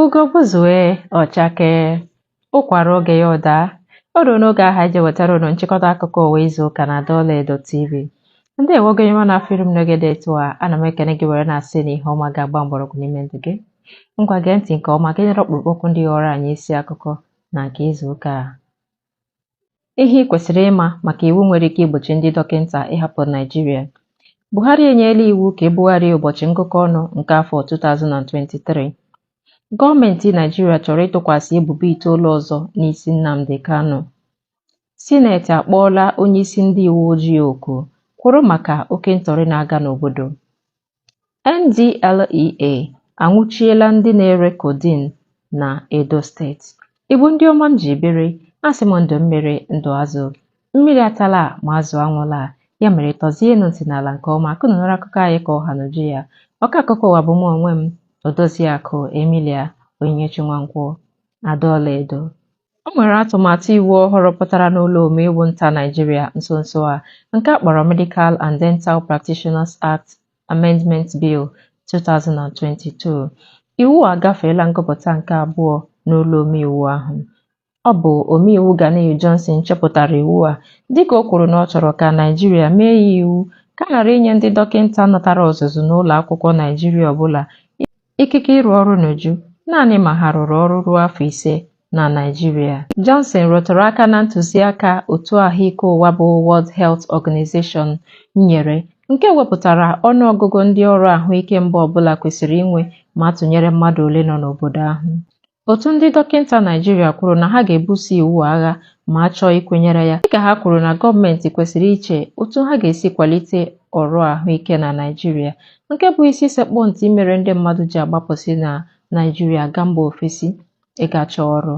ugo gbuzue ọ chakee ụkwa ruo oge ya ọ daa o ruo n'oge ahụ e ji ewetara unu nchịkọta akụkọ ụwa izu ụka na Adaọla Edo TV ndeewo gị onye ọma na-afụ iru m n'oge dị etu a ana m ekene gị were na-asị na ihe ọma ga-agba mgbọrọgwụ n'ime ndụ gị ngwa gee ntị nke ọma ka ị nụrụ ọkpụrụkpụ okwu ndị ghọọrọ anyị isi akụkọ na nke izu ụka a Ihe i kwesịrị ịma maka iwu nwere ike igbochi ndị dọkịta ịhapụ Naịjirịa. Buhari enyela iwu ka ebugharịa ụbọchị ngụkọ ọnụ nke afọ 2023. Gọọmenti Naịjirịa chọrọ ịtụkwasị ebubo itoolu ọzọ n'isi Nnamdi Kanu. Sineti akpọọla onyeisi ndị uwe ojii oku kwụrụ maka oke ntọrị na-aga n'obodo. NDLEA anwụchiela ndị na-ere codeine na Edo steeti. Igbo ndị ọma m ji biri, asị m ndụ mmiri ndụ azụ. Mmiri atala ma azụ anwụla ya mere tọzienụ ntị n'ala nke ọma ka unu nụrụ akụkọ anyị ka ọ ha n'uju ya. Ọka akụkọ ụwa bụ mụ onwe m Odoziakụ Emilia Onyinyechi Nwankwọ Adaọla Edo. O nwere atụmatụ iwu ọhụrụ pụtara n'ụlọ omeiwu nta Naijiria nso nso a nke a kpọrọ Medical and Dental Practitioners Act Amendment Bill 2022. Iwu a agafeela ngụpụta nke abụọ n'ụlọ omeiwu ahụ. Ọ bụ omeiwu Ganiyu Johnson chepụtara iwu a dịka o kwuru na ọ chọrọ ka Naijiria mee ya iwu ka a ghara inye ndị dọkịta natara ọzụzụ n'ụlọ akwụkwọ Naijiria ọbụla ikike ịrụ ọrụ n'uju naanị ma ha rụrụ ọrụ ruo afọ ise na Naịjirịa. Johnson rụtụrụ aka na ntụziaka otu ahụike ụwa bụ World Health Organization nyere nke wepụtara ọnụọgụgụ ndị ọrụ ahụike mba ọbụla kwesịrị inwe ma a tụnyere mmadụ ole nọ n'obodo ahụ. Otu ndị dọkịta Naịjirịa kwuru na ha ga-ebuso iwu a agha ma a chọọ ikwenyere ya, dịka ha kwuru na gọọmenti kwesịrị iche otu ha ga-esi kwalite ọrụ ahụike na Naịjirịa, nke bụ isi sekpụ ntị mere ndị mmadụ ji agbapụsị na Naịjirịa aga mba ofesi ịga chọọ ọrụ.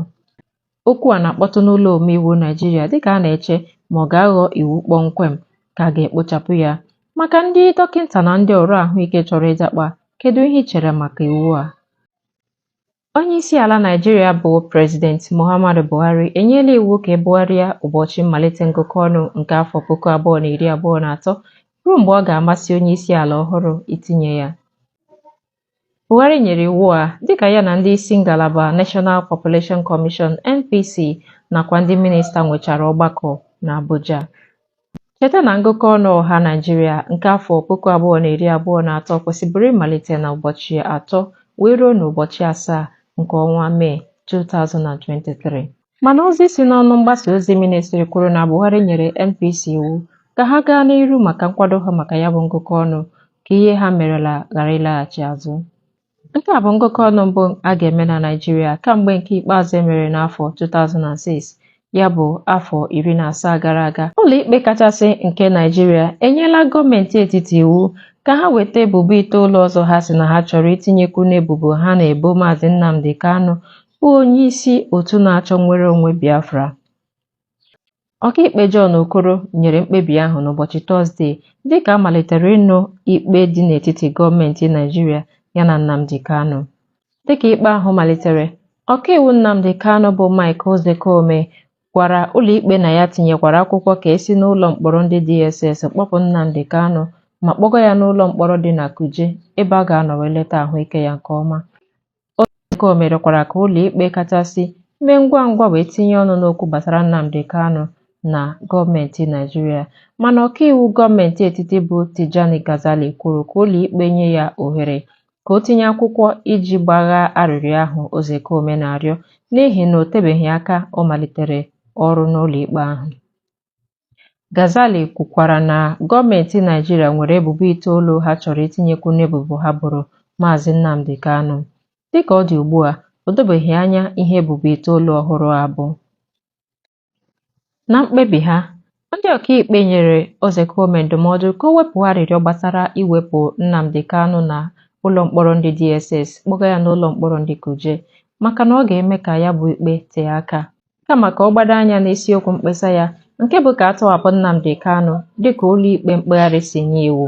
Okwu a na-akpọtụ n'ụlọ omeiwu Naịjirịa dịka a na-eche ma ọ ga-aghọ iwu kpọmkwem ka a ga-ekpochapụ ya. Maka ndị dọkịta na ndị ọrụ ahụike chọrọ ịjakpa, kedu ihe i chere maka iwu a? Onyeisiala Naịjirịa bụ President Muhammadu Buhari enyela iwu ka ebugharịa ụbọchị mmalite ngụkọ ọnụ nke afọ puku abụọ na iri abụọ na atọ ruo mgbe ọ ga-amasị onyeisiala ọhụrụ itinye ya. Buhari nyere iwu a dịka ya na ndị isi ngalaba National Population Commission, NPC, nakwa ndị minista nwechara ọgbakọ n'Abuja. Cheta na ngụkọ ọnụ ọha Naijiria nke afọ puku abụọ na iri abụọ na atọ kwesịbụrụ ịmalite na ụbọchị atọ wee ruo n'ụbọchị asaa nke ọnwa Mee 2023. Mana ozi si n'ọnụ mgbasa ozi ministri kwuru na Buhari nyere NPC iwu ka ha gaa n'iru maka nkwado ha maka ya bụ ngụkọ ọnụ ka ihe ha merela ghara ịlaghachi azụ. Nke a bụ ngụkọ ọnụ mbụ a ga-eme na Naịjirịa kamgbe nke ikpeazụ e mere n'afọ 2006, ya bụ afọ iri na asaa gara aga. Ụlọikpe kachasị nke Naịjirịa enyela gọọmenti etiti iwu ka ha weta ebubo itoolu ọzọ ha sị na ha chọrọ itinyekwu n'ebubo ha na-ebo Maazị Nnamdi Kanu bụ onyeisi otu na-achọ nnwere onwe Biafra. Ọkaikpe John Okoro nyere mkpebi ahụ n'ụbọchị Tọzdee dịka a malitere ịnụ ikpe dị n'etiti gọọmenti Naịjirịa ya na Nnamdi Kanu. Dịka ikpe ahụ malitere, ọkaiwu Nnamdi Kanu bụ Mike Ozekhome gwara ụlọikpe na ya tinyekwara akwụkwọ ka e si n'ụlọ mkpọrọ ndị DSS kpọpụ Nnamdi Kanu ma kpọga ya n'ụlọ mkpọrọ dị na Kuje ebe a ga-anọ wee leta ahụike ya nke ọma. Ozekhome rịọkwara ka ụlọikpe kachasị mee ngwa ngwa wee tinye ọnụ n'okwu gbasara Nnamdi Kanu na gọọmenti Naịjirịa mana ọkaiwu gọọmenti etiti bụ Tijani Gazali kwuru ka ụlọikpe nye ya ohere ka o tinye akwụkwọ iji gbaghaa arịrịọ ahụ Ozekhome na-arịọ n'ihi na o tebeghị aka ọ malitere ọrụ n'ụlọikpe ahụ. Gazali kwukwara na gọọmenti Naịjirịa nwere ebubo itoolu ha chọrọ itinyekwu n'ebubo ha boro Maazị Nnamdi Kanu. Dịka ọ dị ugbu a, o dobeghị anya ihe ebubo itoolu ọhụrụ a bụ. Na mkpebi ha, ndị ọkaikpe nyere Ozekhome ndụmọdụ ka o wepụ arịrịọ gbasara iwepụ Nnamdi Kanu na ụlọ mkpọrọ ndị DSS kpọga ya n'ụlọ mkpọrọ ndị Kuje maka na ọ ga-eme ka ya bụ ikpe tee aka. kama ka ọ gbado anya n'isiokwu mkpesa ya nke bụ ka a tọhapụ Nnamdi Kanu dịka ụlọikpe mkpegharị si nye iwu.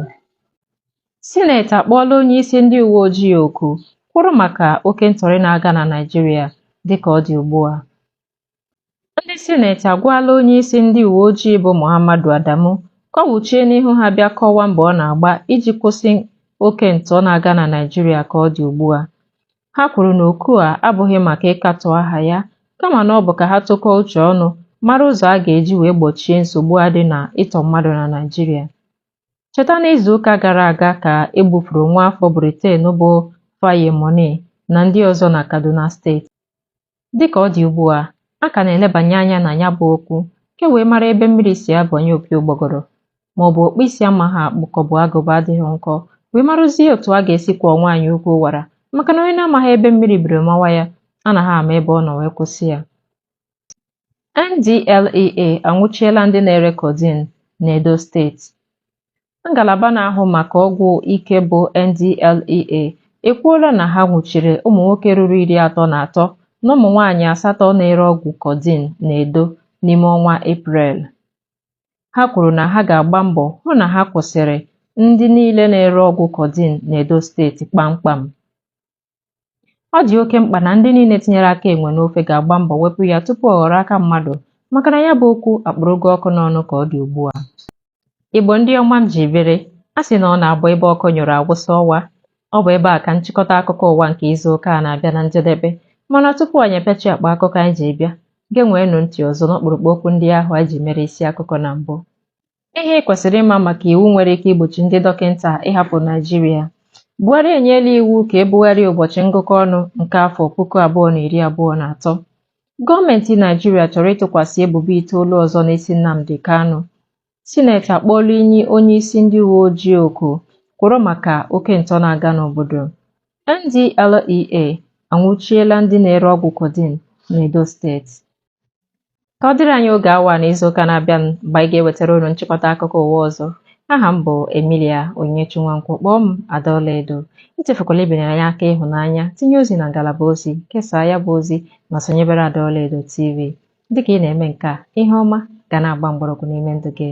Sineti akpọọla onye isi ndị uwe ojii oku kwụrụ maka oke ntọrị na-aga na Naịjirịa dịka ọ dị ugbu a. Ndị sineti agwala onye isi ndị uwe ojii bụ Muhammadu Adamu ka ọ wuchie n'ihu ha bịa kọwaa mbọ ọ na-agba iji kwụsị oke ntọ na-aga na Naịjirịa ka ọ dị ugbu a. Ha kwuru na oku a abụghị maka ịkatọ aha ya kama na ọ bụ ka ha tụkọọ uche ọnụ mara ụzọ a ga-eji wee gbochie nsogbu a dị na ịtọ mmadụ na Naịjirịa. Cheta na izuụka gara aga ka e gbufuru nwaafọ Briten bụ Faye Mooney na ndị ọzọ na Kaduna steeti. Dị ka ọ dị ugbu a, a ka na-elebanye anya na ya bụ okwu ka e wee mara ebe mmiri si abanye opi ụgbọgọrọ ma ọ bụ ọkpụ isi amaghị akpụ ka ọ bụ agụba adịghị nkọ wee marụzie otu a ga-esi kwọọ nwaanyị ukwu wara maka na onye na-amaghị ebe mmiri biri mawa ya anaghị ama ebe ọ nọ wee kwụsị ya. NDLEA anwụchiela ndị na-ere codeine n'Edo steeti. Ngalaba na-ahụ maka ọgwụ ike bụ NDLEA ekwuola na ha nwụchiri ụmụ nwoke ruru iri atọ na atọ na ụmụ nwaanyị asatọ na-ere ọgwụ kodin na Edo n'ime ọnwa Eprel. Ha kwuru na ha ga-agba mbọ hụ na ha kwụsịrị ndị niile na-ere ọgwụ kodin na Edo steeti kpamkpam. Ọ dị oke mkpa na ndị niile tinyere aka enwe n'ofe ga-agba mbọ wepụ ya tupu ọ ghọrọ aka mmadụ maka na ya bụ okwu akpụrụgo ọkụ n'ọnụ ka ọ dị ugbu a. Igbo ndị ọma m ji biri, a sị na ọ na-abụ ebe ọkụ nyụrụ a wụsa ọwa. Ọ bụ ebe a ka nchịkọta akụkọ ụwa nke izu ụka a na-abịa na njedebe mana tupu anyị epechi akpa akụkọ anyị ji bịa, genweenụ ntị ọzọ n'ọkpụrụkpụ okwu ndị ahụ anyị ji mere isi akụkọ na mbụ. Ihe i kwesịrị ịma maka iwu nwere ike igbochi ndị dọkịta ịhapụ Naịjirịa. Buhari enyeela iwu ka e bugharịa ụbọchị ngụkọ ọnụ nke afọ puku abụọ na iri abụọ na atọ. Gọọmenti Naịjirịa chọrọ ịtụkwasị ebubo itoolu ọzọ n'isi Nnamdi Kanu. Sineti akpọọla inyi onyeisi ndị uwe ojii oku kwụrụ maka oke ntọ na-aga n'obodo. NDLEA anwụchiela ndị na-ere ọgwụ codeine n'Edo steeti. ka ọ dịrị anyị oge awa na izu ụka na-abịa mgbe anyị ga-ewetara unu nchịkọta akụkọ ụwa ọzọ aha m bụ Emilia Onyinyechi Nwankwo kpọọ m Adaọlaedo echefukwala ibinyere anyị aka ịhụnanya tinye ozi na ngalaba ozi kesaa ya bụ ozi ma sonyebere Adaọlaedo TV dịka ị na-eme nke a ihe ọma ga na-agba mgbọrọgwụ n'ime ndụ gị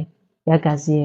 ya gazie